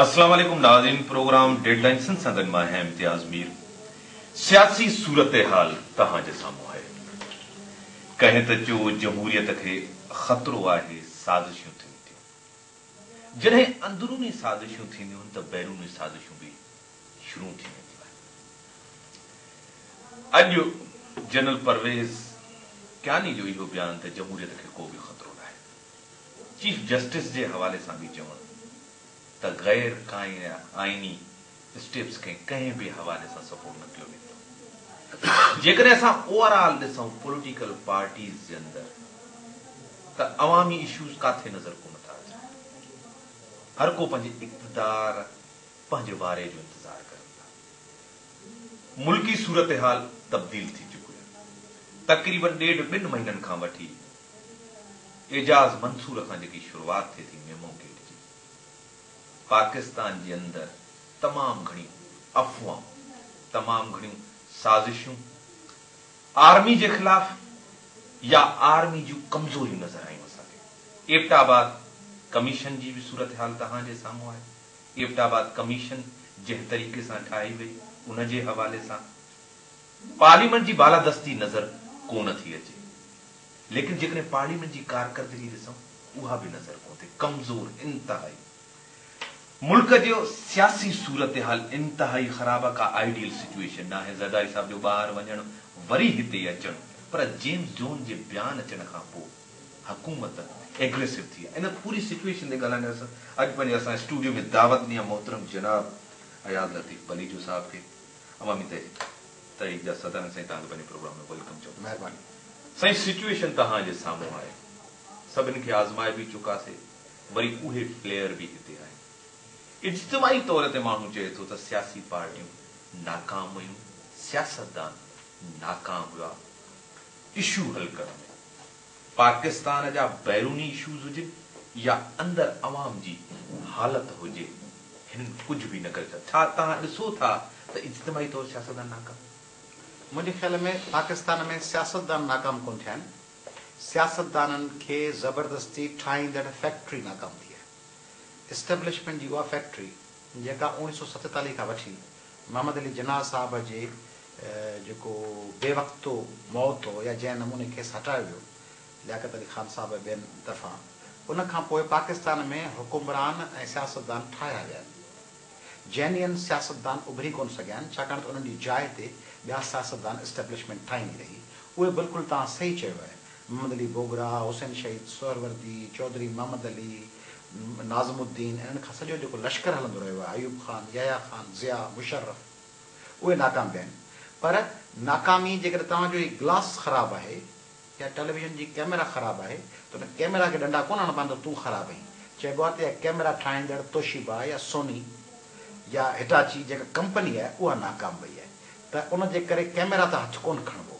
السلام عليڪم ناظرين پروگرام ڊيڊ لائين سنڌ سان گڏ مان اھيان امتياز مير سياسي صورتحال توھان جي سامھون آھي ڪنھن ته چيو جمھوريت کي خطرو آھي سازشيون ٿين ٿيون جڏھن اندروني سازشيون ٿينديون ته بيروني سازشون به شروع ٿي وينديون آهن. اڄ جنرل پرويز ڪياني جو اهو بيان ته جمهوريت کي ڪو به خطرو ناهي، چيف جسٽس جي حوالي سان به چون ته غير آئيني اسٽيپس کي ڪنهن به حوالي سان سپورٽ نه ڪيو ويندو. جيڪڏهن اسان اوور آل ڏسون پوليٽيڪل پارٽيز جي اندر ته عوامي اشوز ڪاٿي نظر ڪونه ٿا اچن. هر ڪو پنهنجي اقتدار پنهنجي واري جو انتظار ڪرن ٿا. ملڪي صورتحال تبديل ٿي چڪي آهي. تقريبن ڏيڍ ٻن مهينن کان وٺي اعجاز منصور کان جيڪي شروعات ٿئي ٿي ميمو گيٽ جي پاڪستان جي اندر تمام گهڻيون افواهون تمام گهڻيون سازشون آرمي جي خلاف يا آرمي جون ڪمزوريون نظر آيون اسان کي ايبٽ آباد ڪميشن جي به صورتحال تهان جي سامهون آهي. ايبٽ آباد ڪميشن جنهن طريقي سان ٺاهي وئي ان جي حوالي سان پارليامينٽ جي بالادستي نظر ڪونه ٿي اچي ليڪن جيڪڏهن پارليامينٽ جي ڪارڪردگي ڏسون اها به نظر ڪونه ٿي ڪمزور انتهائي ملڪ جو سياسي صورتحال انتهائي خراب آ ڪا آئيڊيل سچوئيشن ناهي زرداري صاحب جو ٻاهر وڃڻ وري هتي اچڻ پر جيمز جون جي بيان اچڻ کان پوء حڪومت ايگريسو ٿي آهي ان پوري سچويشن تي ڳالهائڻ لاء اڄ پنهنجي اسان اسٽوڊيو ۾ دعوت ڏني آهي محترم جناب اياز لطيف پليجو صاحب کي عوامي تحريڪ تحريڪ جا صدر آهن سائين توهان کي پنهنجي پروگرام ۾ ويلڪم چئون ٿا مهرباني سائين سچويشن توهان جي سامهون آهي سڀني کي آزمائي به چڪاسي وري اهي پليئر به هتي آهن اجتماعي طور تي ماڻهو چئي ٿو ته سياسي پارٽيون ناڪام ويون سياستدان ناڪام ويا اشو حل ڪرڻ ۾ پاڪستان جا بيروني اشوز هجن يا اندر عوام جي حالت هجي هنن ڪجهه به نه ڪري سگهيا ڇا توهان ڏسو ٿا ته اجتماعي طور سياستدان ناڪام منهنجي خيال ۾ پاڪستان ۾ سياستدان ناڪام ڪونه ٿيا آهن سياستدانن کي زبردستي ٺاهيندڙ فيڪٽري ناڪام ٿي آهي اسٽيبلشمينٽ جي اها فيڪٽري جيڪا اوڻيهه سو ستيتاليهه کان وٺي محمد علي جناح صاحب جي جيڪو بي وقت موت هو يا جنهن نموني کيس هٽايو ويو لياقت علي خان صاحب ٻين طرفان ان کان پوء پاڪستان ۾ حڪمران ۽ سياستدان ٺاهيا ويا آهن جينين سياستدان اڀري ڪونه سگهيا آهن ڇاڪاڻ ته انهن جي جاء تي ٻيا سياستدان اسٽيبلشمينٽ ٺاهيندي رهي اهي بلڪل توهان صحيح چيو آهي محمد علي بوگرا، حسين شهيد سهروردي، چوڌري محمد علي، ناظم الدين انهن کان سڄو جيڪو لشڪر هلندو رهيو آهي، ايوب خان، يحيٰ خان، ضياء، مشرف، اهي ناڪام ويا آهن. پر ناڪامي جيڪڏهن توهان جو هي گلاس خراب آهي يا ٽيليويزن جي ڪئميرا خراب آهي ته ان ڪئميرا کي ڏنڊا ڪونه هڻبا آهن ته تون خراب آهين. چئبو آهي ته اها ڪئميرا ٺاهيندڙ توشيبا يا سوني يا هٽاچي جيڪا ڪمپني آهي اها ناڪام وئي آهي ته ان جي ڪري ڪئميرا ته هٿ ڪونه کڻبو.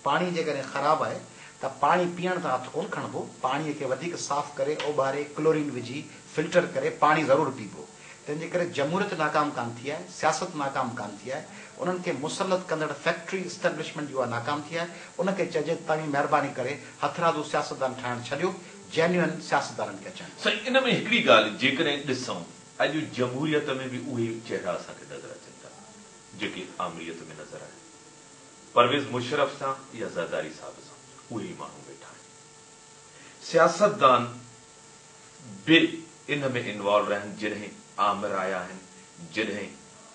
پاڻي جيڪڏهن خراب آهي ته پاڻي پيئڻ تان هٿ ڪونه کڻبو، پاڻي کي وڌيڪ صاف ڪري، اوٻاري، ڪلورين وجهي، فلٽر ڪري پاڻي ضرور پيبو. تنهن جي ڪري جمهوريت ناڪام ڪانه ٿي آهي، سياست ناڪام ڪانه ٿي آهي، انهن کي مسلط ڪندڙ فيڪٽري اسٽيبلشمينٽ جي اها ناڪام ٿي آهي، ان کي چئجي ته توهين مهرباني ڪري هٿرادو سياستدان ٺاهڻ ڇڏيو، جينوئن سياستدانن کي اچڻ ڏيو. سائين ان ۾ هڪڙي ڳالهه جيڪڏهن ڏسون اڄ جمهوريت ۾ به اهي چهرا اسان کي نظر اچن ٿا جيڪي آمريت ۾ نظر آيا. پرويز مشرف سان يا زرداري صاحب سان اهي ئي ماڻهو ويٺا آهن. سياستدان به ان ۾ انوالو رهن جڏهن آمر آيا آهن جڏهن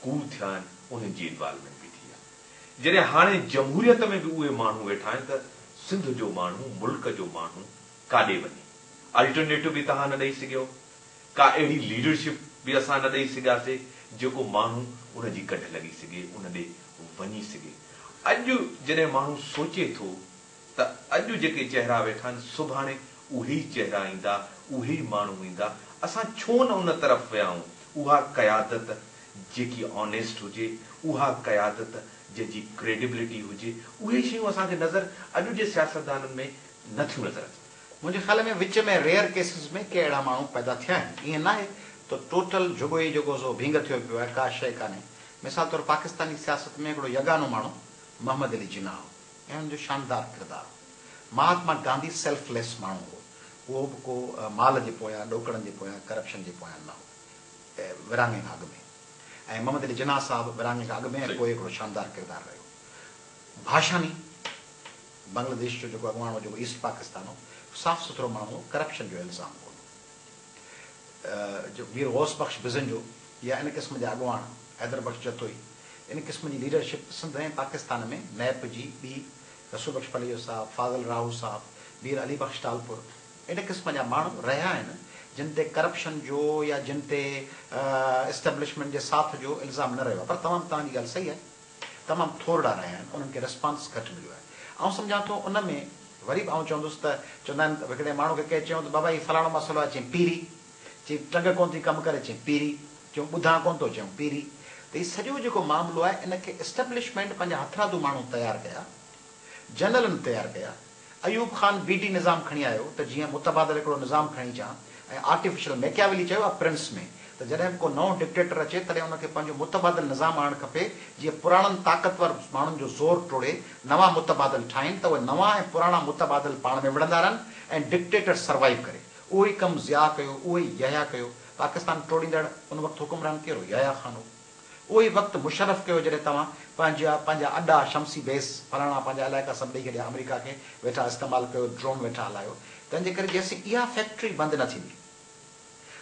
ڪوء ٿيا آهن انهن جي انوالومينٽ به ٿي آهي. جڏهن هاڻي جمهوريت ۾ به اهي ماڻهو ويٺا آهن ته سنڌ جو ماڻهو ملڪ جو ماڻهو ڪاڏي وڃي. الٽرنيٽو به توهان نه ڏئي سگهيو. ڪا اهڙي ليڊرشپ به اسان نه ڏئي سگهياسي جيڪو ماڻهو ان جي ڪڍ لڳي سگهي ان ڏي وڃي سگهي اڄ جڏهن ماڻهو سوچي ٿو ته اڄ جيڪي چهرا ويٺا آهن سڀاڻي اهي ئي چهرا ايندا اهي ئي ماڻهو ايندا اسان ڇو نه ان طرف ويا آهون اها قيادت جيڪي آنيسٽ هجي اها قيادت جنهن جي ڪريڊبلٽي هجي اهي شيون اسان کي نظر اڄ جي سياستدانن ۾ نه ٿيون نظر اچن. منهنجي خيال ۾ وچ ۾ ريئر ڪيسز ۾ ڪي اهڙا ماڻهو پيدا ٿيا آهن. ائين ناهي ته ٽوٽل جهڳو ئي جهڳو زو ڀينگ ٿيو پيو آهي، ڪا شيء ڪانهي. مثال طور پاڪستاني سياست ۾ هڪڙو يگانو ماڻهو محمد علي جناح هو ۽ هن جو شاندار ڪردار هو. مهاتما گانڌي سيلف ليس ماڻهو هو. اهو به ڪو مال جي پويان، ڏوڪڙن جي پويان، ڪرپشن جي پويان نه هو. ورهاڱي کان اڳ ۾ ۽ محمد علي جناح صاحب ورهاڱي کان اڳ ۾ ۽ پوء هڪڙو شاندار ڪردار رهيو. ڀاشاني. بنگلاديش جو جيڪو اڳواڻ هو جيڪو ايسٽ پاڪستان هو صاف سٿرو ماڻهو هو ڪرپشن جو الزام ڪون هو مير غوث بخش بزنجو يا ان قسم جا اڳواڻ حيدر بخش جتوئي ان قسم جي ليڊرشپ سنڌ ۽ پاڪستان ۾ نيپ جي ٻي رسول بخش پليجو صاحب فاضل راهو صاحب مير علي بخش ٽالپر ان قسم جا ماڻهو رهيا آهن جن تي ڪرپشن جو يا جن تي اسٽبلشمينٽ جي ساٿ جو الزام نه رهيو آهي پر تمام توهان جي ڳالهه صحيح آهي. تمام ٿورڙا رهيا آهن انهن کي رسپانس گهٽ مليو آهي آئون سمجهان ٿو ان ۾ وري به آئون چوندس ته چوندا آهن هڪڙي ماڻهو کي ڪنهن چيو ته بابا هي فلاڻو مسئلو آهي چيائين پيري چيائين ٽنگ ڪونه ٿي ڪم ڪري چيائين پيري چيو ٻڌان ڪونه ٿو چيائون پيري ته هي سڄو جيڪو معاملو آهي ان کي اسٽبلشمينٽ پنهنجا هٿرادو ماڻهو تيار ڪيا جنرلن تيار ڪيا ايوب خان بي ڊي نظام کڻي آيو ته جيئن متبادل هڪڙو نظام کڻي اچان ۽ آرٽيفيشل ميڪياويلي چيو آهي پرنس ۾ ته جڏهن به ڪو نئون ڊڪٽيٽر اچي تڏهن ان کي پنهنجو متبادل نظام آڻڻ کپي جيئن پراڻن طاقتور ماڻهن جو زور ٽوڙي نوان متبادل ٺاهين ته اهي نوان ۽ پراڻا متبادل پاڻ ۾ وڙهندا رهن ۽ ڊڪٽيٽر سروائيو ڪري. اهو ئي ڪم ضياء ڪيو، اهو ئي يحيٰ ڪيو. پاڪستان ٽوڙيندڙ ان وقت حڪمران ڪير هو؟ يحيٰ خان هو. اهو ئي وقت مشرف ڪيو جڏهن توهان پنهنجا پنهنجا اڏا شمسي بيس فلاڻا پنهنجا علائقا سڀ ڏئي ڇڏيا آمريڪا کي ويٺا استعمال ڪيو ڊرون ويٺا هلايو تنهن جي ڪري جيسين اها فيڪٽري بند نه ٿيندي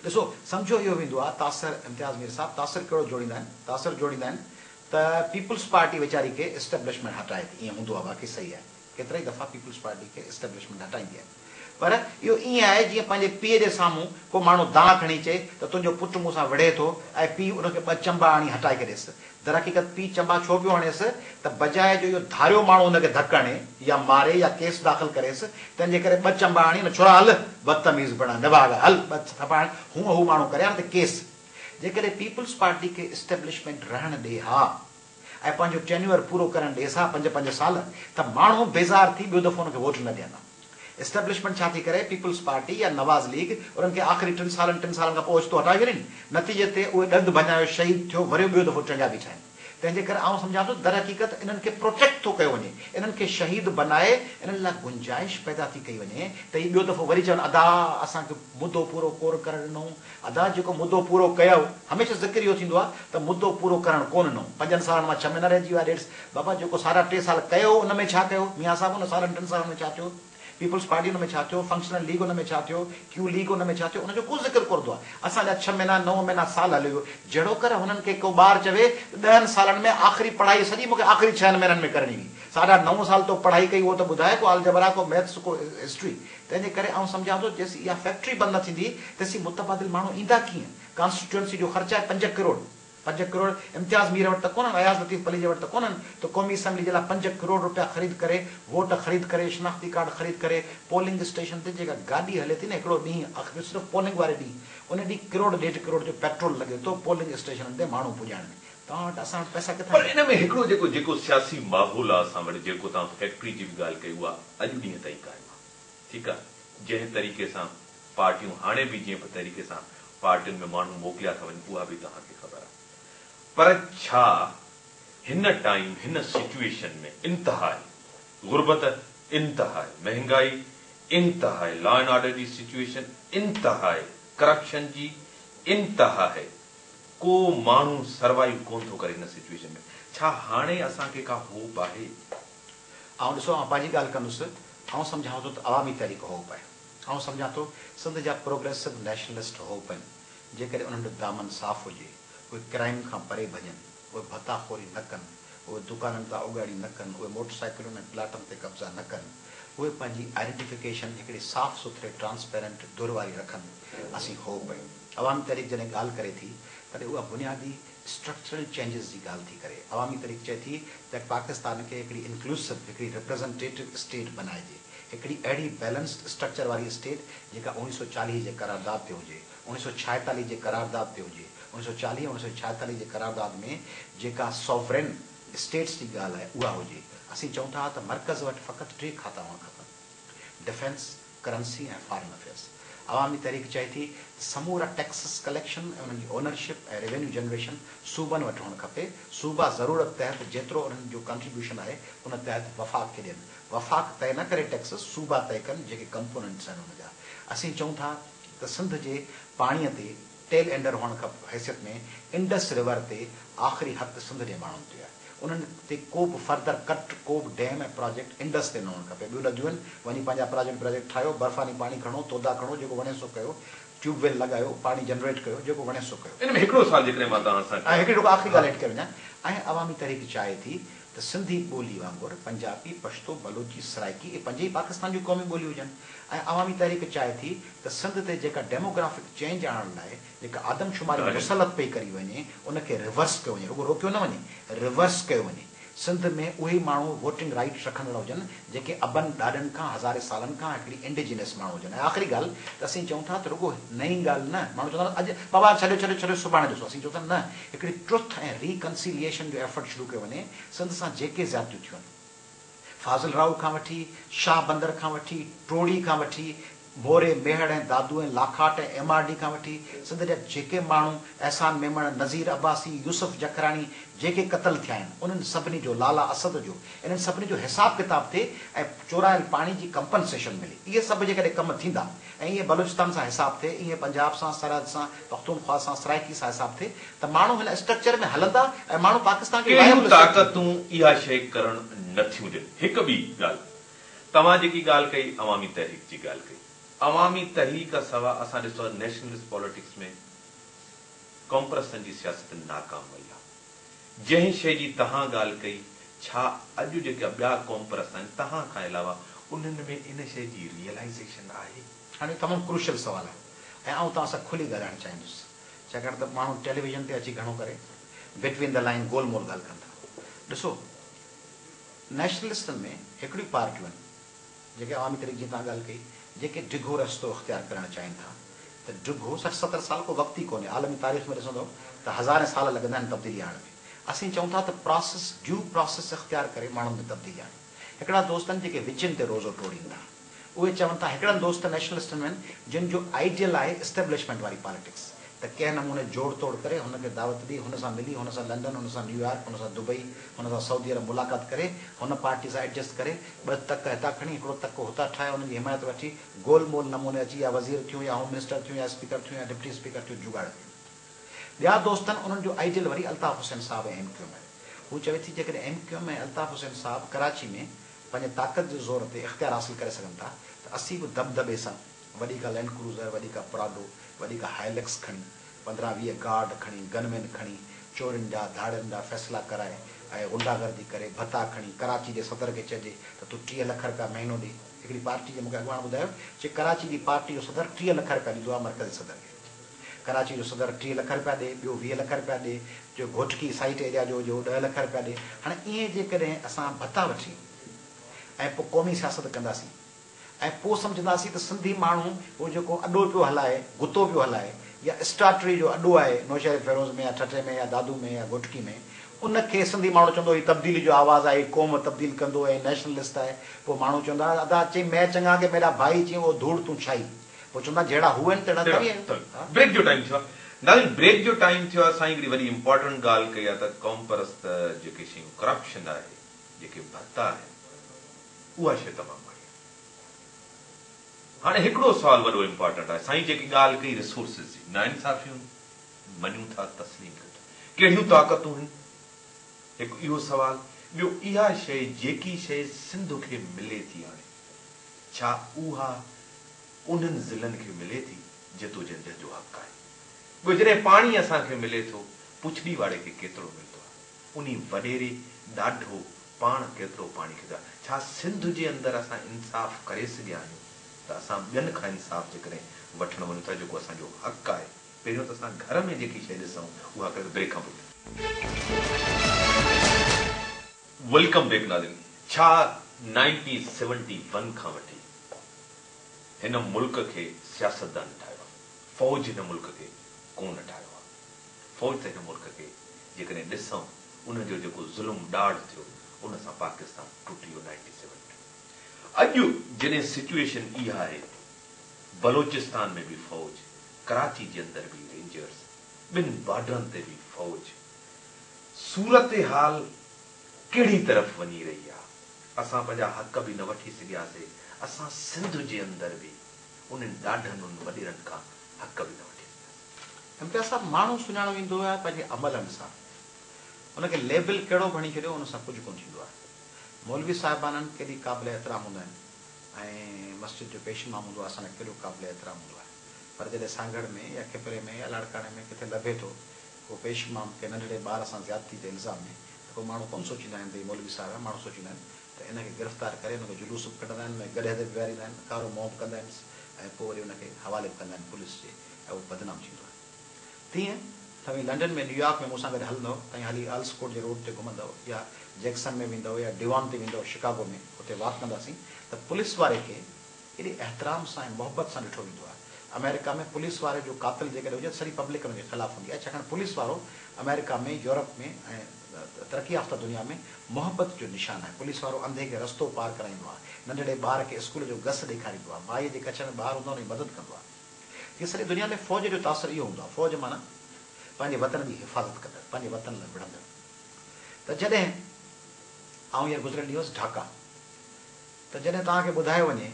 ڏسو سمجهو اهو ويندو آ تاثر امتياز مير صاحب تاثر ڪهڙو جوڙيندا آهن تاثر جوڙيندا آهن ته پيپلز پارٽي ويچاري کي اسٽيبلشمينٽ هٽائي ٿي ائين هوندو آ باقي صحيح آهي. ڪيترائي دفعا پيپلز پارٽي کي اسٽيبلشمينٽ هٽائيندي آهي پر اهو ائين آهي جيئن پنهنجي پيء جي سامهون ڪو ماڻهو دانهن کڻي چئي ته تنهنجو پٽ مون سان وڙهي ٿو ۽ پيء ان کي ٻه چنبا هڻي هٽائي ڇڏيس. درحقيقت پيء چنبا ڇو پيو هڻيس ته بجاء جو اهو ڌاريو ماڻهو هن کي ڌڪ هڻي يا ماري يا ڪيس داخل ڪريس تنهن جي ڪري ٻه چنبا هڻي نه ڇورا هل بدتميز بڻ نڀاڳا هل ٻه ٿڦا هڻ هونء هو ماڻهو ڪري ها نه ته ڪيس جيڪڏهن پيپلز پارٽي کي اسٽيبلشمينٽ رهڻ ڏي ها ۽ پنهنجو ٽينيوئر پورو ڪرڻ ڏيس ها پنج پنج سال ته ماڻهو بيزار ٿي ٻيو دفعو ان کي ووٽ نه ڏين ها. اسٽيبلشمينٽ ڇا ٿي ڪري پيپلز پارٽي يا نواز ليگ انهن کي آخري ٽن سالن ٽن سالن کان پوء اوچتو هٽائي ڇڏين نتيجي تي اهي ڏند ڀڃايو شهيد ٿيو وريو ٻيو دفعو چنگيا بيٺا آهن تنهنجي ڪري آئون سمجهان ٿو ته درحقيقت انهن کي پروٽيڪٽ ٿو ڪيو وڃي انهن کي شهيد بنائي انهن لاء گنجائش پيدا ٿي ڪئي وڃي ته هي ٻيو دفعو وري چون ادا اسان کي مدو پورو ڪور ڪرڻ ڏنو ادا جيڪو مدو پورو ڪيو هميشه ذڪر اهو ٿيندو آ ته مدو پورو ڪرڻ ڪو ننو پنجن سالن مان ڇهه مهينا رهجي ويا ڏيڍ بابا جيڪو سارا ٽي سال ڪيو ان ۾ ڇا ڪيو ميان صاحب ان سارن ٽن سالن ۾ ڇا ٿيو پيپلز پارٽي ان ۾ ڇا ٿيو فنڪشنل ليگ ان ۾ ڇا ٿيو ڪيو ليگ ان ۾ ڇا ٿيو ان جو ڪو ذڪر ڪورندو آ اسان جا ڇهه مهينا نو مهينا سال هليو ويو جهڙوڪر هنن کي ڪو ٻار چوي ته ڏهن سالن ۾ آخري پڙهائي سڄي مونکي آخري ڇهن مهينن ۾ ڪرڻي هئي ساڍا نو سال تو پڙهائي ڪئي اهو ته ٻڌاء ڪو آلجبرا ڪو ميٿس ڪو هسٽري تنهن جي ڪري آئون سمجهان ٿو جيسين اها فيڪٽري بند نه ٿيندي تيسين متبادل ماڻهو ايندا ڪيئن؟ ڪانسٽيٽوئنسي جو خرچ آهي پنج ڪروڙ. پنج ڪروڙ امتياز مير وٽ ته ڪونهن، اياز لطيف پليجي وٽ ته ڪونهن ته قومي اسيمبلي جي لاء پنج ڪروڙ روپيا خريد ڪري، ووٽ خريد ڪري، شناختي ڪارڊ خريد ڪري، پولنگ اسٽيشن تي جيڪا گاڏي هلي ٿي نه هڪڙو ڏينهن اک جو صرف پولنگ واري ڏينهن ان ڏينهن ڪروڙ ڏيڍ ڪروڙ جو پيٽرول لڳي ٿو پولنگ اسٽيشنن تي ماڻهو پڄائڻ ۾ توهان وٽ اسان وٽ پئسا ڪٿان پر ايندا؟ ان ۾ هڪڙو جيڪو جيڪو سياسي ماحول آهي اسان وٽ جيڪو توهان فيڪٽري جي به ڳالهه ڪئي اها اڄ ڏينهن تائين ڪانهي. ٺيڪ آ جنهن طريقي سان پارٽيون هاڻي به جنهن به طريقي سان پارٽين ۾ ماڻهو موڪليا ٿا وڃن اها به توهان کي خبر آ پر ڇا هن ٽائيم هن سچوئيشن ۾ انتهائي غربت انتهائي مهنگائي انتهائي لا اينڊ آرڊر جي سچوئيشن انتهائي ڪرپشن جي انتهائي ڪو ماڻهو سروائيو ڪونه ٿو ڪري هن سچوئيشن ۾ ڇا هاڻي اسان کي ڪا هوپ آهي. آئون ڏسو آئون پنهنجي ڳالهه ڪندس آئون سمجهان ٿو ته عوامي تحريڪ هو پئي آئون سمجهان ٿو سنڌ جا پروگريسو نيشنلسٽ هو پئن جيڪڏهن انهن جو دامن صاف هجي اهي ڪرائيم کان پري ڀڄن اهي ڀتا خوري نه ڪن اهي دڪانن تان اڳاڙي نه ڪن اهي موٽر سائيڪلن ۽ پلاٽن تي قبضا نه ڪن اهي پنهنجي آئيڊينٽيفڪيشن هڪڙي صاف سٿري ٽرانسپيرنٽ ڌر واري رکن اسين هو پئي عوامي تحريڪ جڏهن ڳالهه ڪري ٿي تڏهن اها بنيادي اسٽرڪچرل چينجز جي ڳالهه ٿي ڪري، عوامي تحريڪ چئي ٿي ته پاڪستان کي هڪڙي انڪلوسو، هڪڙي ريپريزنٽيٽو اسٽيٽ بنائجي، هڪڙي اهڙي بيلنسڊ اسٽرڪچر واري اسٽيٽ جيڪا اوڻيهه سؤ چاليهه جي قرارداد تي هجي، اوڻيهه سؤ ڇاهيتاليهه جي قرارداد تي هجي، اوڻيهه سؤ چاليهه اوڻيهه سؤ ڇاهيتاليهه جي قرارداد ۾ جيڪا سوورين اسٽيٽس جي ڳالهه آهي اها هجي، اسين چئون ٿا ته مرڪز وٽ فقط ٽي کاتا هئڻ کپن، ڊفينس، ڪرنسي ۽ فارن افيئرز. عوامي تحريڪ چئي ٿي ته سمورا ٽيڪسز ڪليڪشن ۽ انهن جي اونرشپ ۽ روينيو جنريشن صوبن وٽ هئڻ کپي، صوبا ضرورت تحت جيترو انهن جو ڪنٽريبيوشن آهي ان تحت وفاق کي ڏين، وفاق طئي نه ڪري ٽيڪسز، صوبا طئي ڪن جيڪي ڪمپوننٽس آهن ان جا. اسين چئون ٿا ته سنڌ جي پاڻي تي. ٽيل اينڊر هئڻ کان حيثيت ۾ انڊس ريور تي آخري حق سنڌ جي ماڻهن تي آهي انهن تي ڪوبه فردر ڪٽ ڪوبه ڊيم ۽ پراجيڪٽ انڊس تي نه هئڻ کپي ٻيو لڳيون وڃي پنهنجا پراجيڪٽ براجيڪٽ ٺاهيو برفاني پاڻي کڻو تودا کڻو جيڪو وڻيس سو ڪيو ٽيوب ويل لڳايو پاڻي جنريٽ ڪيو جيڪو وڻيس سو ڪيو. ان ۾ هڪڙو سوال جيڪڏهن مان توهان سان ڪيان ها. ۽ هڪڙي ڊوڪ آخري ڳالهه هيٺ ڪري وڃان ۽ عوامي تحريڪ چاهي ٿي ته سنڌي ٻولي وانگر پنجابي، پشتو، بلوچي، سرائيڪي اهي پنج ئي پاڪستان جون قومي ٻوليون هجن ۽ عوامي تحريڪ چاهي ٿي ته سنڌ تي جيڪا ڊيموگرافڪ چينج آڻڻ لاء جيڪا آدمشماري مسلط پئي ڪري وڃي ان کي ريورس ڪيو وڃي رڳو روڪيو نه وڃي ريورس ڪيو وڃي سنڌ ۾ اهي ماڻهو ووٽنگ رائيٽ رکندڙ هجن جيڪي ابن ڏاڏن کان هزارين سالن کان هڪڙي انڊيجينس ماڻهو هجن ۽ آخري ڳالهه ته اسين چئون ٿا ته رڳو نئين ڳالهه نه ماڻهو چوندا آهن اڄ بابا هاڻ ڇڏيو ڇڏيو ڇڏيو سڀاڻي ڏسو اسين چئون ٿا نه هڪڙي ٽروٿ ۽ ري ڪنسيليئيشن جو ايفرٽ شروع ڪيو وڃي سنڌ سان جيڪي زيادتيون ٿيون آهن فاضل راهو کان وٺي شاهه بندر کان وٺي ٽوڙي کان وٺي Moro, Mehar ۽ Dadu ۽ Lakhat ۽ M R D کان وٺي سنڌ جا جيڪي ماڻهو احسان ميمڻ، نظير عباسي، يوسف جکراڻي جيڪي قتل ٿيا آهن انهن سڀني جو لالا اسد جو انهن سڀني جو حساب ڪتاب ٿئي ۽ چورايل پاڻي جي ڪمپنسيشن ملي اهي سڀ جيڪڏهن ڪم ٿيندا ۽ ائين بلوچستان سان حساب ٿئي ائين پنجاب سان سرحد سان پختونخوا سان سرائيڪي سان حساب ٿئي ته ماڻهو هن اسٽرڪچر ۾ هلندا ۽ ماڻهو پاڪستان جي وائبل اسٽيٽ ٿيندو. ڪهڙيون طاقتون اها شيء ڪرڻ نٿيون ڏين هڪ ٻي ڳالهه توهان جيڪي ڳالهه ڪئي عوامي تحريڪ جي ڳالهه ڪئي عوامي تحريڪ کان سوا اسان ڏسو ته نيشنلسٽ پاليٽڪس ۾ ڪمپرسن جي سياست ناڪام وئي آهي جنهن شئي جي تهان ڳالهه ڪئي ڇا اڄ جيڪا ٻيا ڪمپرس آهن تهان کان علاوه انهن ۾ ان شئي جي ريئلائيزيشن آهي. هاڻي تمام ڪروشل سوال آهي ۽ آئون توهان سان کلي ڳالهائڻ چاهيندس ڇاڪاڻ ته ماڻهو ٽيليويزن تي اچي گهڻو ڪري بٽوين دي لائين گول مول ڳالهه ڪن ٿا ڏسو نيشنلسٽن ۾ هڪڙيون پارٽيون آهن جيڪي عوامي تحريڪ جيئن توهان ڳالهه ڪئي جيڪي ڊگهو رستو اختيار ڪرڻ چاهين ٿا ته ڊگهو سٺ ستر سال ڪو وقت ئي ڪونهي عالمي تاريخ ۾ ڏسندو ته هزارين سال لڳندا آهن تبديلي آڻڻ ۾ اسين چئون ٿا ته پراسيس ڊيو پراسيس اختيار ڪري ماڻهن ۾ تبديلي آڻيون هڪڙا دوست آهن جيڪي وچين تي روزو ٽوڙين ٿا. اهي چون ٿا هڪڙن دوست نيشنلسٽن ۾ آهن جن جو آئيڊيل آهي اسٽيبلشمينٽ واري پاليٽڪس ته ڪنهن نموني جوڙ توڙ ڪري هن کي دعوت ڏئي هن سان ملي هن سان لنڊن هن سان نيويارڪ هن سان دبئي هن سان سعودي عرب ملاقات ڪري هن پارٽي سان ايڊجسٽ ڪري ٻه تڪ هتان کڻي هڪڙو تڪ هتان ٺاهي انهن جي حمايت وٺي گول مول نموني اچي يا وزير ٿيون يا هوم منسٽر ٿيون يا اسپيڪر ٿيون يا ڊپٽي اسپيڪر ٿيون جوڳاڙ ٿيون ٻيا دوست آهن انهن جو آئيڊيل وري Altaf Hussain sahib ۽ M Q M آهي هو چوي ٿي جيڪڏهن M Q M ۽ Altaf Hussain sahib Karachi ۾ پنهنجي طاقت جي زور تي اختيار حاصل ڪري سگهن ٿا ته اسين به دٻدٻي سان وڏي ڪا لينڊ ڪروزر، وڏي ڪا پراڊو، وڏي ڪا هائلڪس کڻي، پندرهن ويهه گارڊ کڻي، گن مين کڻي، چورين جا، ڌاڙيلن جا فيصلا ڪرائي ۽ غنڊا گردي ڪري ڀتا کڻي ڪراچي جي صدر کي چئجي ته تون ٽيهه لک رپيا مهينو ڏي. هڪڙي پارٽي جي مون کي اڳواڻ ٻڌايو چي ڪراچي جي پارٽي جو صدر ٽيهه لک رپيا ڏيندو آهي مرڪزي صدر کي. ڪراچي جو صدر ٽيهه لک رپيا ڏي، ٻيو ويهه لک رپيا ڏي، جو گهوٽڪي سائيٽ ايريا جو هجي اهو ڏهه لک رپيا ڏي، هاڻي ائين جيڪڏهن اسان ڀتا وٺي ۽ پوء قومي سياست ڪنداسين ۽ پوء سمجهنداسين ته سنڌي ماڻهو اهو جيڪو اڏو پيو هلائي، گتو پيو هلائي يا اسٽاٽري جو اڏو آهي نوشهري فيروز ۾ يا ٺٽي ۾ يا دادو ۾ يا گهوٽڪي ۾ ان کي سنڌي ماڻهو چوندو هي تبديلي جو آواز آهي هي قوم تبديل ڪندو ۽ نيشنلسٽ آهي پوء ماڻهو چوندا ادا چئي مئي چڱا ڪي ميڏا ڀائي چئي او ڌوڙ تون ڇائي پوء چوندا آهن جهڙا هو آهن تهڙا توهين آهيو. بريڪ جو ٽائيم ٿيو آ ناظرين بريڪ جو ٽائيم ٿيو آ سائين هڪڙي وڏي امپارٽنٽ ڳالهه ڪئي آ ته قومپرست جيڪي شيون ڪرپشن آهي جيڪي ڀت آهن اها شي تمام ماڙي آهي هاڻي هڪڙو سوال وڏو امپارٽنٽ آهي سائين جيڪي ڳالهه ڪئي ريسورسز جي ناانصافيون مڃون ٿا تسليم ڪيون ٿا ڪهڙيون طاقتون هن هڪ اهو سوال ٻيو اها شي جيڪي شي سنڌ کي ملي ٿي هاڻي ڇا اها انهن ضلعن کي ملي ٿي جتو جنجهه جو حق آهي؟ ٻيو جڏهن پاڻي اسان کي ملي ٿو، پڇڙي واري کي ڪيترو ملندو آهي؟ انهي وڏيري، ڏاڍو، پاڻ ڪيترو پاڻي کيدو آهي؟ ڇا سنڌ جي اندر اسان انصاف ڪري سگهيا آهيون ته اسان ٻين کان انصاف جيڪڏهن وٺڻ وڃون ٿا جيڪو اسان جو حق آهي، پهريون ته اسان گهر ۾ جيڪي شيء ڏسون اها ڪنهن ته بري کان پڇون. ويلڪم بيڪ ناظرين ڇا نائنٽين سيونٽي ون کان وٺي هن ملڪ کي سياستدان ٺاهيو آهي فوج هن ملڪ کي ڪونه ٺاهيو آهي فوج ته هن ملڪ کي جيڪڏهن ڏسون ان جو جيڪو ظلم ڏاڍ ٿيو ان سان پاڪستان ٽٽي ويو نائنٽي سيون ۾ اڄ جڏهن سچوئيشن اها آهي بلوچستان ۾ به فوج ڪراچي جي اندر به رينجرز ٻن بارڊرن تي به فوج صورتحال ڪهڙي طرف وڃي رهي آ، اسان پنهنجا حق به نه وٺي سگهياسي، اسان سنڌ جي اندر به انهن ڏاڍن ان وڏيرن کان حق به نه وٺي سگهياسي. امتياز صاحب ماڻهو سڃاڻو ويندو آهي پنهنجي عملن سان، ان کي ليبل ڪهڙو به هڻي ڇڏيو ان سان ڪجهه ڪونه ٿيندو آهي، مولوي صاحبانن ڪيڏي قابل احترام هوندا آهن ۽ مسجد جو پيش امام هوندو آهي اسان لاء ڪيڏو قابل احترام هوندو آهي پر جڏهن سانگهڙ ۾ يا کپري ۾ يا لاڙڪاڻي ۾ ڪٿي لڀي ٿو ڪو پيش امام ڪنهن ننڍڙي ٻار سان زيادتي جي الزام ڏي ته پوء ماڻهو ڪونه سوچيندا آهن ته هي مولوي صاحب آهي، ماڻهو سوچيندا آهن ته ان کي گرفتار ڪري ان کي جلوس به ڪڍندا آهن، ان کي گڏهه تي به ويهاريندا آهن، ڪارو منهن به ڪندا آهنس ۽ پوء وري ان کي حوالي به ڪندا آهن پوليس جي ۽ اهو بدنام ٿيندو آهي. تيئن توهين لنڊن ۾ نيويارڪ ۾ مون سان گڏ هلندؤ، توهين هلي آلس ڪورٽ جي روڊ تي گهمندؤ يا جيڪسن ۾ ويندؤ يا ڊيوان تي ويندؤ شڪاگو ۾ اتي واڪ ڪنداسين ته پوليس واري کي، ايڏي احترام سان ۽ محبت سان ڏٺو ويندو آهي. آمريڪا ۾ پوليس واري جو قاتل جيڪڏهن هجي ته سڄي پبلڪ ان جي خلاف هوندي آهي ڇاڪاڻ پوليس وارو آمريڪا ۾ يورپ ۾ ۽ ترقي يافته دنيا ۾ محبت جو نشان آهي پوليس وارو انڌي کي رستو پار ڪرائيندو آهي ننڍڙي ٻار کي اسڪول جو گس ڏيکاريندو آهي مائي جي ڪڇ ۾ ٻار هوندا ان جي مدد ڪندو آهي جيئن سڄي دنيا ۾ فوج جو تاثر اهو هوندو آهي فوج معنيٰ پنهنجي وطن جي حفاظت ڪندڙ پنهنجي وطن لاء وڙهندڙ ته جڏهن آئون هينئر گذريل ڏينهن هوس ڍاڪا. ته جڏهن توهان کي ٻڌايو وڃي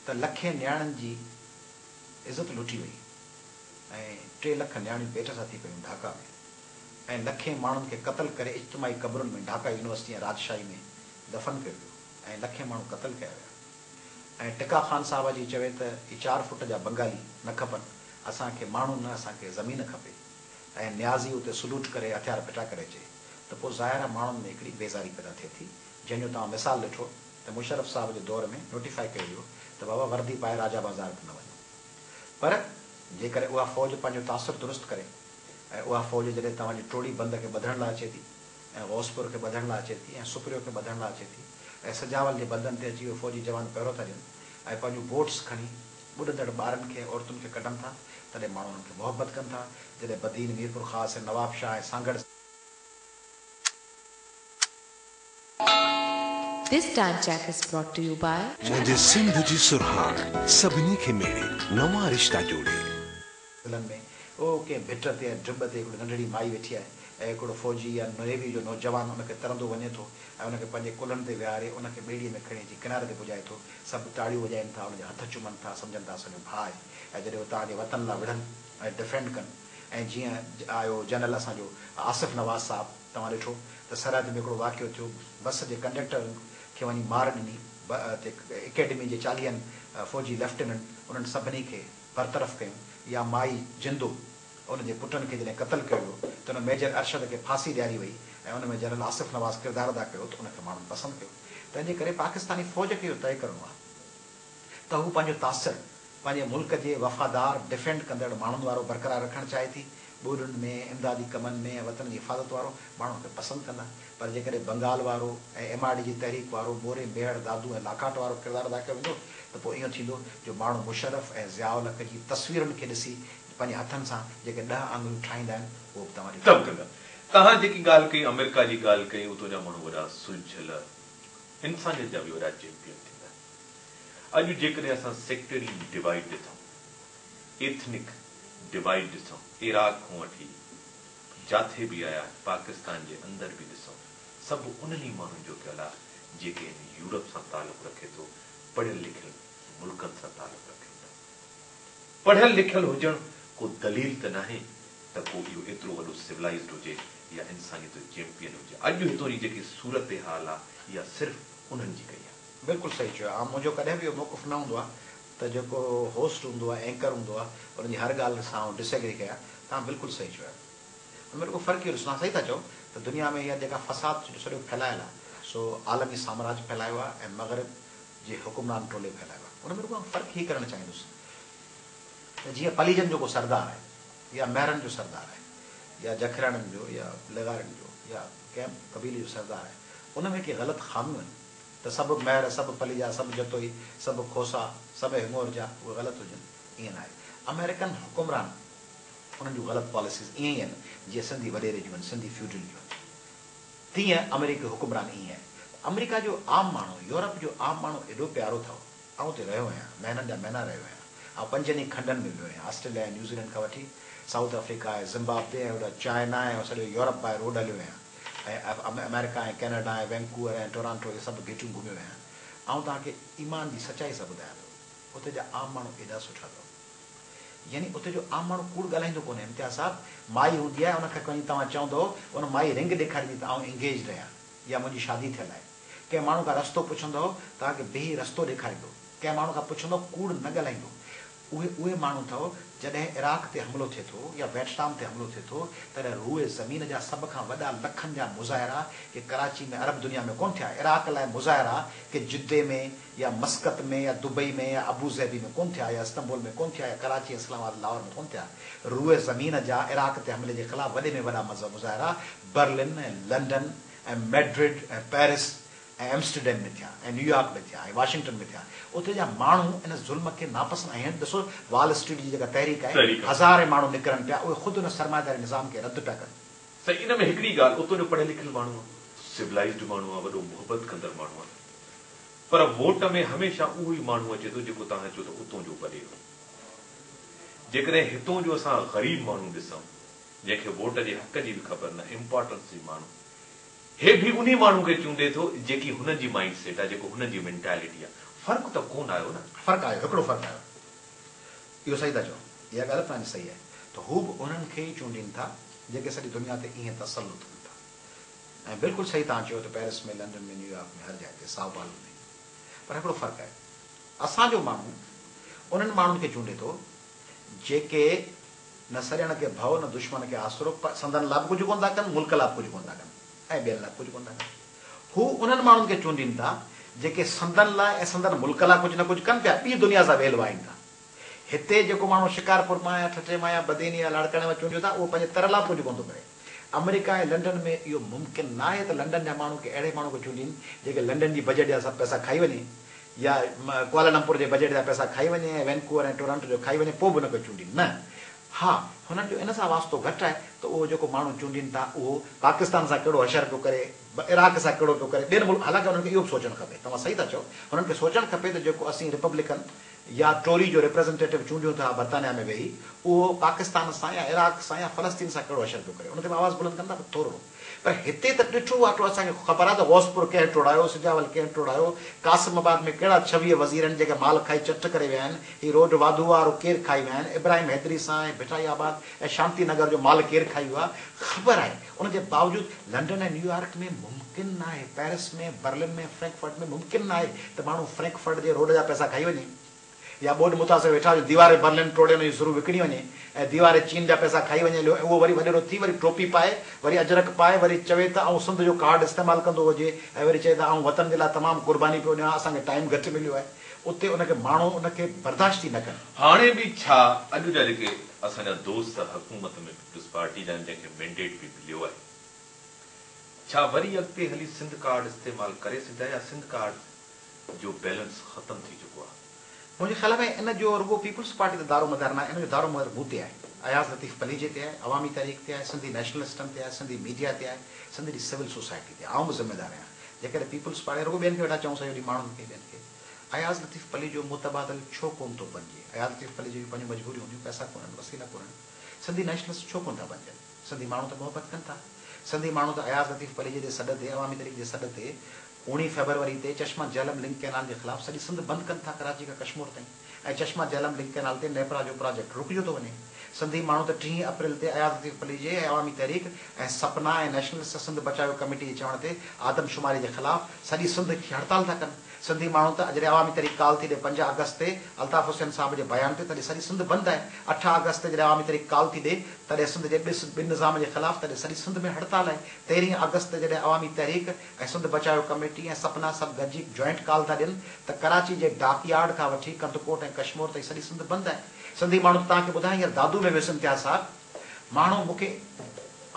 ته لکين نياڻين جي عزت لٽي وئي ۽ ٽي لک نياڻيون پيٽ سان ٿي پيون ڍاڪا ۾ ۽ لکين ماڻهن کي قتل ڪري اجتماعي قبرن ۾ ڍاڪا يونيورسٽي ۽ راجشاهي ۾ دفن ڪيو ويو ۽ لکين ماڻهو قتل ڪيا ويا ۽ ٽڪا خان صاحب اچي چوي ته هي چار فٽ جا بنگالي نه کپن اسان کي ماڻهو نه اسان کي زمين کپي ۽ نيازي اتي سلوٽ ڪري هٿيار ڦٽا ڪري اچي ته پوء ظاهر آهي ماڻهن ۾ هڪڙي بيزاري پيدا ٿئي ٿي جنهن جو توهان مثال ڏٺو ته مشرف صاحب جي دور ۾ نوٽيفائي ڪيو ويو ته بابا وردي پائي راجا بازار به نه وڃو پر جيڪڏهن اها فوج پنهنجو تاثر درست ڪري ۽ اها فوج جڏهن توهان جي ٽوڙي بند کي ٻڌڻ لاء اچي ٿي ۽ غوثپور کي ٻڌڻ لاء اچي ٿي ۽ سپريو کي ٻڌڻ لاء اچي ٿي ۽ سجاول جي بندن تي اچي اهي فوجي جوان پهرو ٿا ڏين ۽ پنهنجون بوٽس کڻي ٻڏندڙ ٻارن کي ۽ عورتن کي ڪڍن ٿا تڏهن ماڻهو انهن کي محبت ڪن ٿا جڏهن Badin, Mirpurkhas ۽ Nawabshah ۽ Sanghar. This time check is brought to you by. منهنجي سنڌ جي سرهاڻ سڀني کي ميڙي نوان رشتا جوڙي. ضلعن ۾ او ڪنهن ڀٽ تي يا ڊٻ تي هڪڙي ننڍڙي مائي ويٺي آهي ۽ هڪڙو فوجي يا نيوي جو نوجوان ان کي ترندو وڃي ٿو ۽ ان کي پنهنجي ڪلهن تي ويهاري ان کي ٻيڙيء ۾ کڻي اچي ڪناري تي پڄائي ٿو سڀ تاڙيون وڄائين ٿا ان جا هٿ چومن ٿا سمجهن ٿا اسان جو ڀاء آهي ۽ جڏهن هو توهان جي وطن لاء وڙهن ۽ ڊفينڊ ڪن ۽ جيئن آيو جنرل اسان جو آصف نواز صاحب توهان ڏٺو ته سرحد ۾ هڪڙو واقعو ٿيو، بس جي ڪنڊڪٽر کي وڃي مار ڏني تي اڪيڊمي جي چاليهن فوجي ليفٽيننٽ انهن سڀني کي برطرف ڪيون يا مائي جندو ان جي پٽن کي جڏهن قتل ڪيو ويو ته ان ميجر ارشد کي ڦاسي ڏياري وئي ۽ ان ۾ جنرل آصف نواز ڪردار ادا ڪيو ته ان کي ماڻهن پسند ڪيو تنهن جي ڪري پاڪستاني فوج کي اهو طئي ڪرڻو آهي ته هو پنهنجو تاثر پنهنجي ملڪ جي وفادار ڊفينڊ ڪندڙ ماڻهن وارو برقرار رکڻ چاهي ٿي، ٻوڏن ۾ امدادي ڪمن ۾ ۽ وطن جي حفاظت وارو ماڻهو ان کي پسند ڪندا، پر جيڪڏهن بنگال وارو ۽ ايم آر ڊي جي تحريڪ وارو موري ميهڙ دادو ۽ لاکاٽ وارو ڪردار ادا ڪيو ويندو ته پوء ايئن ٿيندو جو ماڻهو مشرف ۽ ضياء الحق جي تصويرن کي ڏسي پنهنجي هٿن سان جيڪي ڏهه آڱريون ٺاهيندا آهن اهو به توهان جو ڪندا، توهان جيڪي ڳالهه ڪئي آمريڪا جي ڳالهه ڪئي اتو جا ماڻهو وڏا سلجهيل انسانيت جا به وڏا چيمپيئن ٿيندا. اڄ جيڪڏهن اسان سيڪٽري ڊوائيڊ ڏسون، ايٿنڪ ڊوائيڊ ڏسون، عراق کان وٺي جاٿي به آيا پاڪستان جي اندر به ڏسون، سڀ انهن ئي ماڻهن جو پيل آ جيڪي هن يورپ سان تعلق رکي ٿو پڙهيل لکيل ملڪن سان تعلق رکن ٿا. پڙهيل لکيل هجڻ ڪو دليل ته ناهي ته ڪو اهو ايترو وڏو سولائيزڊ هجي يا انسانيت جو چيمپيئن هجي. اڄ هتون جي جيڪي صورتحال آ اها صرف انهن جي ڪئي آ. بلڪل صحيح چيو آ منهنجو ڪڏهن به اهو موقف نه هوندو آ ته جيڪو هوسٽ هوندو آ اينڪر هوندو آ ان جي هر ڳالهه سان آئون ڊس ايگري ڪيان توهان بلڪل صحيح چيو آ ان ۾ رڳو فرق اهو ڏسندو آ صحيح ٿا چئو ته دنيا ۾ هي جيڪا فساد جو سڏيو ڦهلايل آ سو عالمي سامراج ڦهلايو آ ۽ مغرب جي حڪمران ٽولي ڦهلايو آ ان ۾ رڳو آئون فرق هي ڪرڻ چاهيندس ته جيئن پليجن جو ڪو سردار آهي يا مهرن جو سردار آهي يا جکرياڻين جو يا لغارين جو يا ڪنهن به قبيلي جو سردار آهي ان ۾ ڪي غلط خاميون آهن ته سڀ مهر، سڀ پليجا، سڀ جتوئي، سڀ کوسا، سڀ هيمور جا اهي غلط هجن، ائين ناهي. آمريڪن حڪمران انهن جون غلط پاليسيز ائين ئي آهن، جيئن سنڌي وڏيري جون آهن، سنڌي فيوڊل جون آهن، تيئن آمريڪي حڪمران ائين آهي. ته آمريڪا جو عام ماڻهو، يورپ جو عام ماڻهو ايڏو پيارو اٿئو. آئون اتي رهيو آهيان، مهينن جا مهينا رهيو آهيان. آئون پنجن ئي کنڊن ۾ ويو آهيان، آسٽريليا ۽ نيوزيلينڊ کان وٺي سائوٿ آفريڪا ۽ زمبابوي ۽ هوڏانهن چائنا ۽ سڄو يورپ باء روڊ هليو آهيان ۽ آمريڪا ۽ ڪينيڊا ۽ وينڪوور ۽ ٽورانٽو اهي سڀ گهيٽيون گهميو آهيان. آئون توهان کي ايمان جي سچائي سان ٻڌايان ٿو، اتي جا عام ماڻهو ايڏا سٺا اٿو. يعني اتي جو عام ماڻهو ڪوڙ ڳالهائيندو ڪونهي. امتياز صاحب، مائي هوندي آهي، ان کي وڃي توهان چوندؤ، ان مائي رنگ ڏيکاريندي ته آئون انگيجڊ آهيان يا منهنجي شادي ٿيل آهي. ڪنهن ماڻهو کان رستو پڇندؤ توهان کي بيهي رستو ڏيکاريندو، ڪنهن ماڻهو کان پڇندؤ ڪوڙ نه ڳالهائيندو، اهي اهي ماڻهو اٿئو جڏهن عراق تي حملو ٿئي ٿو يا ويٽنام تي حملو ٿئي ٿو تڏهن روء زمين جا سڀ کان وڏا لکن جا مظاهرا ڪي ڪراچي ۾ عرب دنيا ۾ ڪونه ٿيا عراق لاء مظاهرا ڪي جدي ۾ يا مسقط ۾ يا دبئي ۾ يا ابوظهبي ۾ ڪونه ٿيا يا استنبول ۾ ڪونه ٿيا يا ڪراچي اسلام آباد لاهور ۾ ڪونه ٿيا روء زمين جا عراق تي حملي جي خلاف وڏي ۾ وڏا مظاهرا Berlin ۽ London ۽ Madrid ۽ Paris ۽ Amsterdam ۾ ٿيا ۽ نيويارڪ ۾ ٿيا ۽ واشنگٽن ۾ ٿيا. اتي جا ماڻهو ان ظلم کي ناپسند آهن. ڏسو وال اسٽريٽ جي جيڪا تحريڪ آهي، هزارين ماڻهو نڪرن پيا، اهي خود ان سرمائيداري نظام کي رد پيا ڪن. سائين ان ۾ هڪڙي ڳالهه اتو جو پڙهيل لکيل ماڻهو آ، سولائيزڊ ماڻهو آ، وڏو محبت ڪندڙ ماڻهو آ، پر ووٽ ۾ هميشه اهو ئي ماڻهو اچي ٿو جيڪو توهان چئو ته اتو جو وڏيرو. جيڪڏهن هتو جو اسان غريب ماڻهو ڏسون جنهن کي ووٽ جي حق جي به خبر نه امپارٽنس جي ماڻهو هي به انهي ماڻهو کي چونڊي ٿو جيڪي هنن جي مائنڊ سيٽ آ جيڪو هنن جي مينٽالٽي آ فرق ته ڪون آيو نه. فرق آيو هڪڙو فرق آيو اهو صحيح ٿا چئو اها ڳالهه به توهان جي صحيح آهي ته هو به انهن کي ئي چونڊين ٿا جيڪي سڄي دنيا تي ائين تسلط ڪن ٿا ۽ بلڪل صحيح توهان چيو ته پيرس ۾ لنڊن ۾ نيويارڪ ۾ هر جاء تي سائو پالو ۾ پر هڪڙو فرق آهي اسان جو ماڻهو انهن ماڻهن کي چونڊي ٿو جيڪي نه سڄڻ کي ڀؤ نه دشمن کي آسرو پر سندن لا به ڪجهه ڪونه ٿا ڪن، ملڪ لا به ڪجهه ڪونه ٿا ڪن ۽ ٻين لا به ڪجهه ڪونه ٿا ڪن. هو انهن ماڻهن کي چونڊين ٿا جيڪي سندن لا ۽ سندن ملڪ لا ڪجهه نه ڪجهه ڪن پيا، ٻي دنيا سان ويل وائين ٿا. هتي جيڪو ماڻهو شڪارپور مان يا ٺٽي مان يا بدين يا لاڙڪاڻي مان چونڊيو ٿا اهو پنهنجي تر لا به ڪجهه ڪونه ٿو ڪري. آمريڪا ۽ لنڊن ۾ اهو ممڪن ناهي ته لنڊن جا ماڻهو ڪنهن اهڙي ماڻهو کي چونڊين جيڪي لنڊن جي بجيٽ جا سڀ پئسا کائي وڃي يا ڪوالالمپور جي بجيٽ جا پئسا کائي وڃي ۽ وينڪوور ۽ ٽورانٽو جو کائي وڃي پوء به نه ڪو چونڊين نه ها هنن جو ان سان واسطو گهٽ آهي ته اهو جيڪو ماڻهو چونڊين ٿا اهو پاڪستان سان ڪهڙو حشر پيو ڪري عراق سان ڪهڙو پيو ڪري ٻين ملڪ حالانڪه هنن کي اهو به سوچڻ کپي توهان صحيح ٿا چئو هنن کي سوچڻ کپي ته جيڪو اسين ريپبلڪن يا ٽوري جو ريپريزنٽيٽو چونڊيون ٿا برطانيا ۾ ويهي اهو پاڪستان سان يا عراق سان يا فلسطين سان ڪهڙو اشر پيو ڪري ان تي به آواز بلند ڪن ٿا ٿورڙو پر هتي ته ڏٺو واٽو اسان کي خبر آ ته غوثپور ڪنهن ٽوڙايو سجاول ڪنهن ٽوڙايو قاسم آباد ۾ ڪهڙا ڇويهه وزير آهن جيڪي مال کائي چٽ ڪري ويا آهن هي روڊ واڌو آ رو ڪير کائي ويا آهن ابراهيم حيدري سان ۽ ڀٽائي آباد ۽ شانتي نگر جو مال ڪير کائي ويو آ خبر آهي ان جي باوجود لنڊن ۽ نيويارڪ ۾ ممڪن ناهي، پئرس ۾، برلن ۾، فرينڪفرٽ ۾ ممڪن ناهي ته ماڻهو فرينڪفرٽ جي روڊ جا پئسا کائي وڃي يا ٻوڏ متاثر ويٺا هجن ديواري برلن ٽوڙي ان جون سرون وڪڻي وڃي ۽ ديواري چين جا پئسا کائي وڃي ليو ۽ اهو وري وڏيرو ٿي وري ٽوپي پائي وري اجرڪ پائي وري چوي ته آئون سنڌ جو ڪارڊ استعمال ڪندو هجي ۽ وري چئي ته آئون وطن جي لاء تمام قرباني پيو ڏيان اسان کي ٽائيم گهٽ مليو آهي اتي ان کي ماڻهو ان کي برداشت ئي نه ڪن. هاڻي به ڇا اڄ جا جيڪي اسان جا دوست حڪومت ۾. پيپلز پارٽي ڏانهن جنهن کي مينڊيٽ به مليو آهي ڇا وري اڳتي هلي سنڌ ڪارڊ استعمال ڪري سگهجا يا سنڌ ڪارڊ جو بيلنس ختم ٿي چڪو آهي. منهنجي خيال ۾ ان جو رڳو پيپلز پارٽي تي دارو مدار ناهي ان جو دارو مدار مون تي آهي اياز لطيف پليجي تي آهي عوامي تحريڪ تي آهي سنڌي نيشنلسٽن تي آهي سنڌي ميڊيا تي آهي سنڌ جي سول سوسائٽي تي آئون به ذميدار آهيان جيڪڏهن پيپلز پارٽي رڳو ٻين کي ويٺا چئون سڄو ڏينهن ماڻهن کي ٻين کي اياز لطيف پليجو متبادل ڇو ڪون ٿو بنجي اياز لطيف پليجي جون پنهنجون مجبوريون هونديون پئسا ڪونهن وسيلا ڪونهن سنڌي نيشنلسٽ ڇو ڪونه ٿا بنجن؟ سنڌي ماڻهو ته محبت ڪن ٿا. سنڌي ماڻهو ته اياز لطيف پليجي جي سڏ تي عوامي تحريڪ جي سڏ تي اوڻيهه فيبروري تي چشما جهلم لنڪ ڪئنال جي خلاف سڄي سنڌ بند ڪن ٿا ڪراچي کان ڪشمور تائين ۽ چشما جهلم لنڪ ڪئنال تي نيپرا جو پراجيڪٽ رڪجيو ٿو وڃي. سنڌي ماڻهو ته ٽيهين اپريل تي اياز لطيف پليجي ۽ عوامي تحريڪ ۽ سپنا ۽ نيشنلسٽ سنڌ بچايو ڪميٽي جي چوڻ تي آدمشماري جي خلاف سڄي سنڌ کي هڙتال ٿا ڪن سنڌي ماڻهو ته جڏهن عوامي تحريڪ ڪال ٿي ڏي پنج آگسٽ تي الطاف حسين صاحب جي بيان تي تڏهن سڄي سنڌ بند آهي اٺ آگسٽ تي جڏهن عوامي تحريڪ ڪال ٿي ڏي تڏهن سنڌ جي ڏس ٻن نظام جي خلاف تڏهن سڄي سنڌ ۾ هڙتال آهي تيرهين آگسٽ تي جڏهن عوامي تحريڪ ۽ سنڌ بچايو ڪميٽي ۽ سپنا سڀ گڏجي جوائنٽ ڪال ٿا ڏين ته ڪراچي جي ڊاڪ يارڊ کان وٺي ڪنڌڪوٽ ۽ ڪشمور تائين سڄي سنڌ بند آهي سنڌي ماڻهو ته توهان کي ٻڌايو هينئر دادو ۾ ويس امتياز صاحب ماڻهو مون کي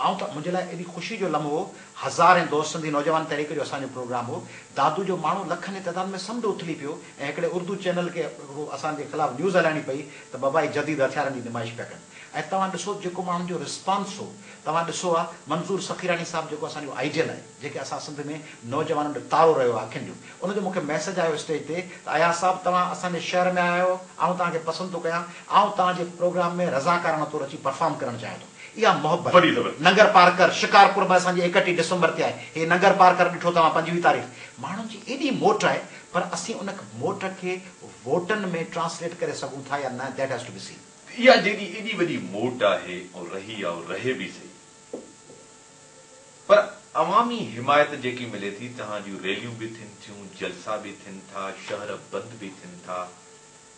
آئون ته منهنجي لاء ايڏي خوشي جو لمحو هو، هزارين دوست سنڌي نوجوان تحريڪ جو اسان جو پروگرام هو، دادو جو ماڻهو لکن جي تعداد ۾ سمنڊ اٿلي پيو ۽ هڪڙي اردو چينل کي اهو اسان جي خلاف نيوز هلائڻي پئي ته ببائي جديد هٿيارن جي نمائش پيا ڪن ۽ توهان ڏسو جيڪو ماڻهن جو رسپانس هو توهان ڏسو ها منظور سخيراڻي صاحب جيڪو اسان جو آئيڊيل آهي. جيڪي اسان سنڌ ۾ نوجوانن جو تارو رهيو آهي اکين جو ان جو مون کي ميسيج آيو اسٽيج تي ته اياز صاحب توهان اسان جي شهر ۾ آيا آهيو آئون توهان کي پسند ٿو ڪيان آئون توهان جي پروگرام ۾ رضاڪارانه طور اچي پرفارم ڪرڻ چاهيان ٿو اها محبت ننگر پارڪر شڪارپور ۾ اسان جي ايڪٽيهه ڊسمبر تي آهي هي ننگر پارڪر ڏٺو توهان پنجويهه تاريخ ماڻهن جي ايڏي موٽ آهي پر اسين ان موٽ کي ووٽن ۾ ٽرانسليٽ ڪري سگهون ٿا يا نه that has to be seen. اها جيڏي ايڏي وڏي موٽ آهي ۽ رهي آهي رهي به سهي پر عوامي حمايت جيڪي ملي ٿي تنهن جون ريليون به ٿين ٿيون، جلسا به ٿين ٿا، شهر بند به ٿين ٿا،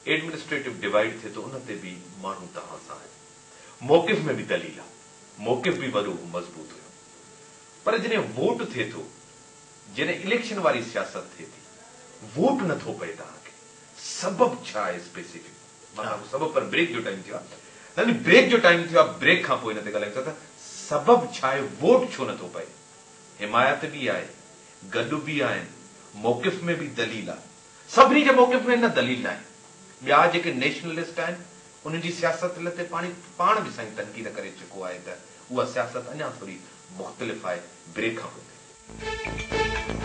ايڊمنسٽريٽو ڊوائيڊ ٿئي ٿو ان تي به ماڻهو تنهن سان آهن. موقف ۾ به دليل آهي. موقف به وڏو مضبوط هيو. پر جڏهن ووٽ ٿئي ٿو، جڏهن اليڪشن واري سياست ٿئي ٿي، ووٽ نه ٿو پئي تنهن کي سبب ڇا آهي اسپيسيفڪ؟ مانا ڪو سبب پر بريڪ جو ٽائيم ٿيو آ نه نه بريڪ جو ٽائيم ٿيو آ بريڪ کان پوء ان تي ڳالهايون ٿا ته سبب ڇا آهي ووٽ ڇو نه ٿو پئي حمايت به آهي گڏ به آهن موقف ۾ به دليل آ سڀني جي موقف ۾ نه دليل ناهي ٻيا جيڪي نيشنلسٽ آهن انهن جي سياست لتي پاڻي پاڻ به سائين تنقيد ڪري چڪو آهي ته اها سياست اڃا ٿوري مختلف آهي بريڪ کان پوء تي.